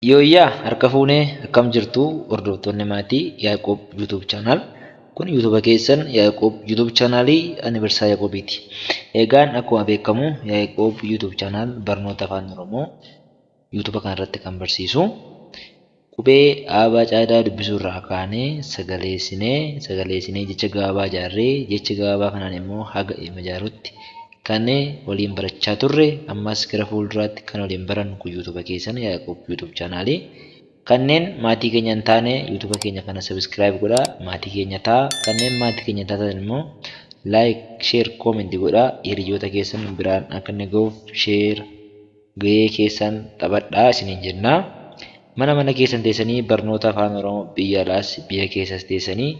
Yooyyaa harka fuune akkam jirtu hordoftoonni maatii Yaaqoob YouTube channel. Kun YouTube keessan Yaaqoob YouTube channel ani barsiisaa Yaaqoobiiti. Egaan akkuma beekamu Yaaqoob YouTube channel barnoota afaan Oromoo YouTube kana irratti kan barsiisu. Qubee aabaa caadaa dubbisuu irraa kaanee sagaleessinee sagaleessinee jecha gabaabaa ijaarree jecha gabaabaa kanaan immoo haga ilma ijaaruutti Kan waliin barachaa turre ammas gara fuulduraatti kan waliin barannu kun youtube keessan Yaqoob youtube channel kanneen maatii keenya hin taane youtube keenya kana subscribe godhaa maatii keenya ta'a kanneen maatii keenya taatan immoo like share comment godhaa hiriyoota keessan biraan akka inni gahuuf share Gahee keessan taphadhaa isiniin jenna. Mana mana keessan teessanii barnoota Afaan Oromoo biyya alaas biyya keessas teessanii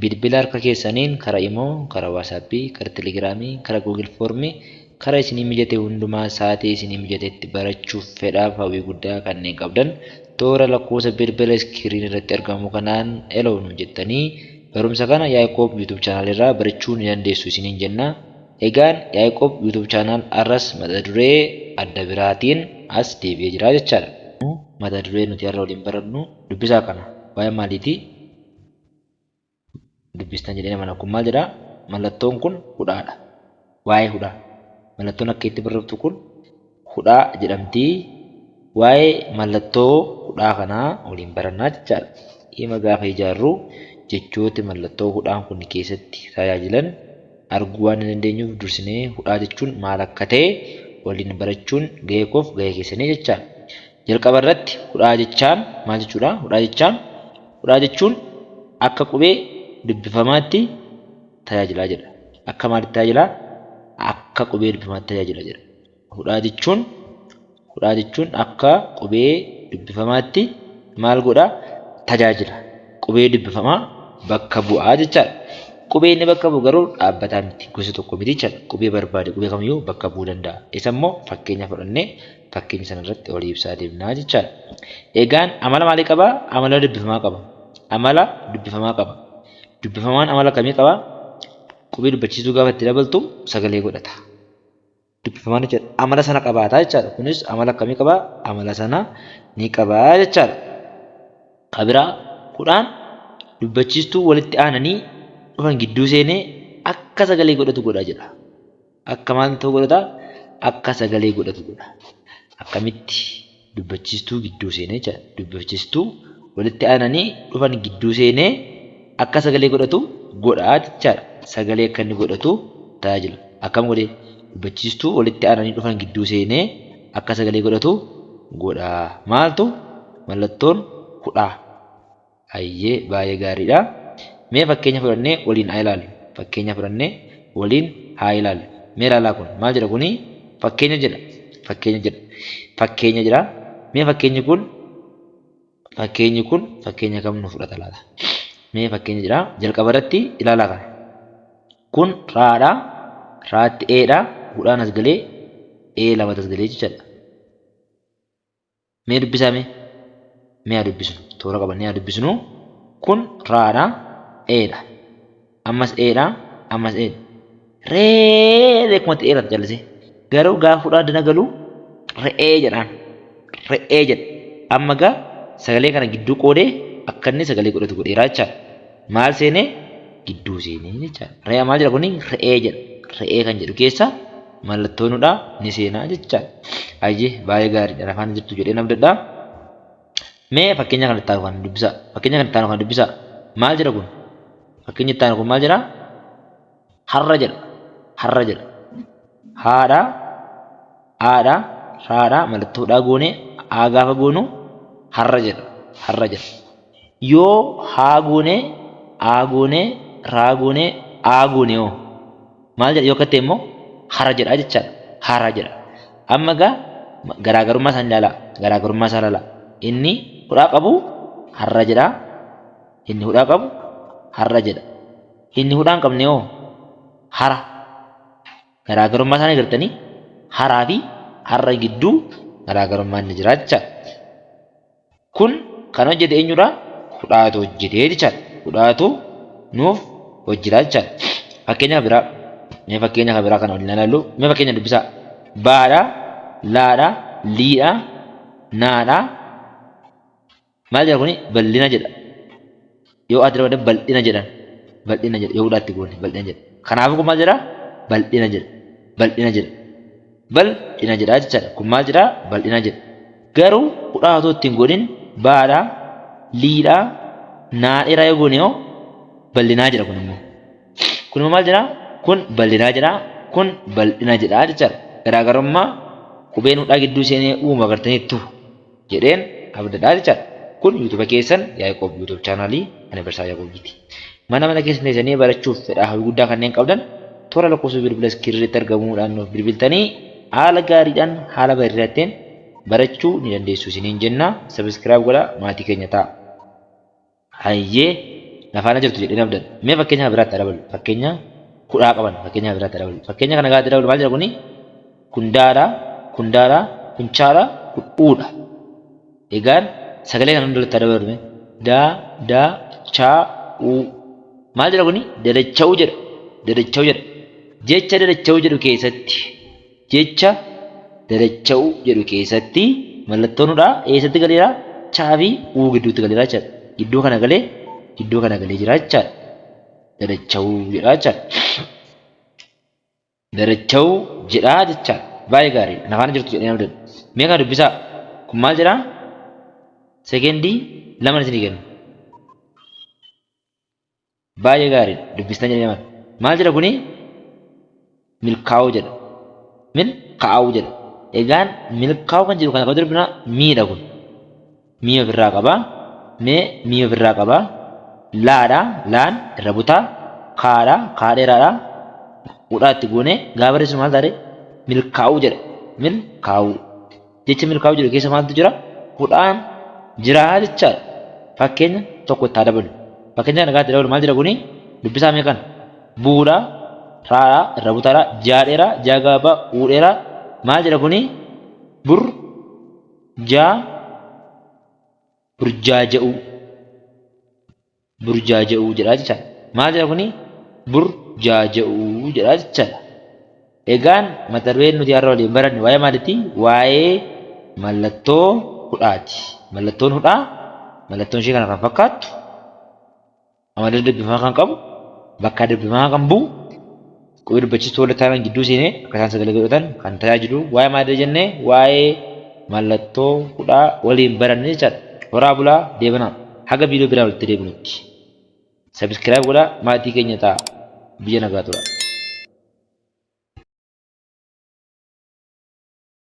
bilbila harka keessaniin kara Imo, kara WhatsApp, kara Telegram, kara Google Form kara isinii mijate hundumaa saatii isinii mijatetti barachuuf fedhaaf hawwii guddaa kanneen qabdan toora lakkoofsa bilbila iskiriin irratti argamu kanaan Hello nuun jettanii barumsa kana Yaaqoob YouTube channel irraa barachuu ni dandeessu isiniin jenna. Egaan Yaiqoob YouTube channel arras mata duree adda biraatiin as deebi'ee jira jechaadha. Garuu mata duree nuti har'a waliin barannu dubbisaa kana waa'ee maaliiti dubbistan jedheen amana kun maal jedha mallattoon kun hudhaadha waa'ee hudhaa mallattoon akka itti barreftu kun hudhaa jedhamti. Waa'ee mallattoo hudhaa kanaa waliin barannaa jechaadha. Hima gaafa ijaarru jechooti mallattoo hudhaan kun keessatti tajaajilan arguu waan hin dandeenyuuf dursinee hudhaa jechuun maal akka ta'e waliin barachuun gahee koof gahee keessanii jechaadha. Jalqaba irratti hudhaa jechaan maal jechuudha? Hudhaa jechaan hudhaa jechuun akka qubee dubbifamaatti tajaajila jedha. Akka maalitti tajaajila? Akka qubee dubbifamaatti tajaajila jedha. hudhaa jechuun hudhaa jechuun akka qubee dubbifamaatti maal godha tajaajila. Qubee dubbifamaa bakka bu'aa jechaadha. Qubee inni bakka bu'u garuu dhaabbataa miti gosa tokko miti jechaadha. Qubee barbaade qubee kamiyyuu bakka bu'uu danda'a. Isammoo fakkeenya fudhannee fakkeenya sanarratti walii ibsaa deemnaa jechaadha. Egaan amala maalii qaba? Amala dubbifamaa qaba. Amala dubbifamaa qaba. Dubbifamaan amala akkamii qaba? Qubee dubbachiistuu gaafa itti dabaltu sagalee godhata. dubbifaman jechuudha. Amala sana qabaata jechaadha. Kunis amala akkamii qaba? Amala sana ni qaba jechaadha. Ka biraa kudhaan dubbachiistuu walitti aananii dhufan gidduu seenee akka sagalee godhatu godha jedha. Akka maal ta'u godhata? Akka sagalee godhatu godha. Akkamitti? dubbachiistuu gidduu seenee jechaadha. Dubbachiistuu walitti aananii dhufan gidduu seenee akka sagalee godhatu godha jechaadha. Sagalee akka inni godhatu tajaajila. Akkam godhee? Dubbachiistuu walitti aananii dhufan gidduu seenee akka sagalee godhatu godha. Maaltu? Mallattoon hudhaa. Hayyee baay'ee gaariidha. Mee fakkeenya fudhannee waliin haa ilaallu. Fakkeenya fudhannee waliin haa ilaallu. Mee ilaalaa kun maal jedha kuni? Fakkeenya jedha. Fakkeenya jedha. Fakkeenya jedha. Mee fakkeenyi kun fakkeenyi kun fakkeenya kam nu fudhata laata? Mee fakkeenya jedha. Jalqaba irratti ilaalaa kana. Kun raadha. Raatti eedha. Hudhaan as galee ee lamatti as galee jechaadha. Mee dubbisaa mee. Mee haa dubbisnu. Toora qabannee haa dubbisnu. Kun raadha. Eedha. Ammas eedha. Ammas eedha. Ree beekumatti dheerata callisee. Garuu gaafa fudhaa dana galu re'ee jedhaan. Re'ee jedha. Amma gaa sagalee kana gidduu qoodee akka inni sagalee godhatu godheera jechaadha. Maal seenee? Gidduu seenee jechaadha. Re'ee maal jedha kuni? Re'ee jedha. Re'ee kan jedhu keessa mallattoo nu dha ni seenaa jechaan. Ayyee baay'ee gaariidha na faana jirtu jedheen abdadha. Mee fakkeenya kan itti aanu kana dubbisaa. Fakkeenya kan itti aanu kana dubbisaa. Maal jedha kun? Fakkeenyi itti aanu kun maal jedha? Har'a jedha. Har'a jedha. Haadha, aadha, raadha, mallattoo dhaa goone, aa gaafa goonu har'a jedha. Har'a jedha. Yoo haa goone, aa goone, raa goone, aa goone hoo? Maal jedha yoo katte immoo hara jedha jechaadha. Hara jedha. Amma egaa garaagarummaa isaanii ilaalaa. Garaagarummaa isaa ilaalaa. Inni hudhaa qabu harra jedha. Inni hudhaa qabu harra jedha. Inni hudhaa hin qabne hoo hara. Garaagarummaa isaanii agartanii haraa fi harra gidduu garaagarummaan ni jira jechaadha. Kun kan hojjete eenyudha? Hudhaatu hojjete jechaadha. Hudhaatu nuuf hojjeta jechaadha. Fakkeenya kan biraa mee fakkeenya kan biraa kana waliin ilaallu mee fakkeenya dubbisaa. Baadha, laadha, liidha, naadha. Maal jedha kuni? Bal'ina jedha. Yoo aatti dabalee baldhina jedhan baldhina jedha yoo hudhaa itti goone baldhina jedha kanaafuu kun maal jedha baldhina jedha baldhina jedha bal dhina jedha jechaadha kun maal jedha baldhina jedha garuu hudhaa otoo ittiin godhin baadha liidha naa dheeraa yoo goone hoo baldhinaa jedha kun immoo kun immoo maal jedha kun baldhinaa jedha kun baldhina jedha jechaadha garaagarummaa qubeen hudhaa gidduu seenee uumu agartaniittu. jedheen abdadhaa jechaadha. Kun YouTube keessan Yaaqoob YouTube channel ani barsiisaa Yaaqoobiiti. Mana mana keessan teessanii barachuuf fedhaa hawwii guddaa kanneen qabdan toora lakkoofsa bilbila iskirii irratti argamuudhaan nuuf bilbiltanii haala gaariidhaan haala bareedaatteen barachuu ni dandeessu isiniin jenna. Subscribe godhaa maatii keenya ta'a. Hayyee, na faana jirtu jedheen abdadha. Mee fakkeenya kan biraatti haa daballu. Fakkeenya kudha haa qabannu. Fakkeenya kan biraatti haa daballu. Fakkeenya kana gaafa itti daballu maal jedha kuni? Kundaala, kundaala, kunchaala, kud'uudha. Egaan sagalee kana hunda walitti haa daballu mee. Da, da, cha, u. Maal jedha kuni? Dadacha'uu jedha. Dadacha'uu jedha. Jecha dadacha'uu jedhu keessatti Jecha dadacha'u jedhu keessatti mallattoon hudhaa eessatti galeera? Cha fi u gidduutti galeera jechaadha. Iddoo kana galee iddoo kana galee jira jechaadha. Dadacha'uu jedha jechaadha. Dadacha'uu jedha jechaadha. Baay'ee gaariidha. Na faana jirtu jedheen abdadha. Mee kana dubbisaa. Kun maal jedha? Sekendii laman isinii kenna. Baay'ee gaariidha dubbistan jedhee maal maal jedha kuni milkaa'uu jedha mil kaa'uu jedha egaan milkaa'uu kan jedhu kana kan durbina miidha kun mii ofirraa qaba mee mii ofirraa qaba laadha laan irra butaa kaadha kaa dheeraadha hudhaatti goone gaabarreessu maal taare milkaa'uu jedha mil kaa'uu Jecha milkaa'uu jedhu keessa maaltu jira? Hudhaan jiraa jechaadha. Fakkeenya tokko itti haa dabalu. Fakkeenya kana gaatti dabalu maal jedha kuni? Dubbisaa mee kana. Bu'uudhaa, raadhaa, irraa butaadhaa, ji'aa dheeraa, ji'aa gabaabaa, uu dheeraa. Maal jedha kuni? Bur, jaa, burjaaja'uu. burjaaja'uu jedha jechaadha. Maal jedha kuni? Burjaaja'uu jedha jechaadha. Egaan mata dureen nuti har'a waliin baranne waa'ee maaliiti? Waa'ee mallattoo hudhaati. Mallattoon hudhaa mallattoon ishee kana kan fakkaattu amala dubbifamaa kan qabu bakka dubbifamaa kan bu'u Qubee dubbachiistuu walitti aanan gidduu seenee akka isaan sagalee godhatan kan tajaajilu waa'ee maalidha jennee waa'ee mallattoo hudhaa waliin baranne jechaadha. Horaa bulaa deebanaa haga viidiyoo biraan walitti deebinutti sabiskiraayib godhaa maatii keenya ta'a biyya nagaa tura.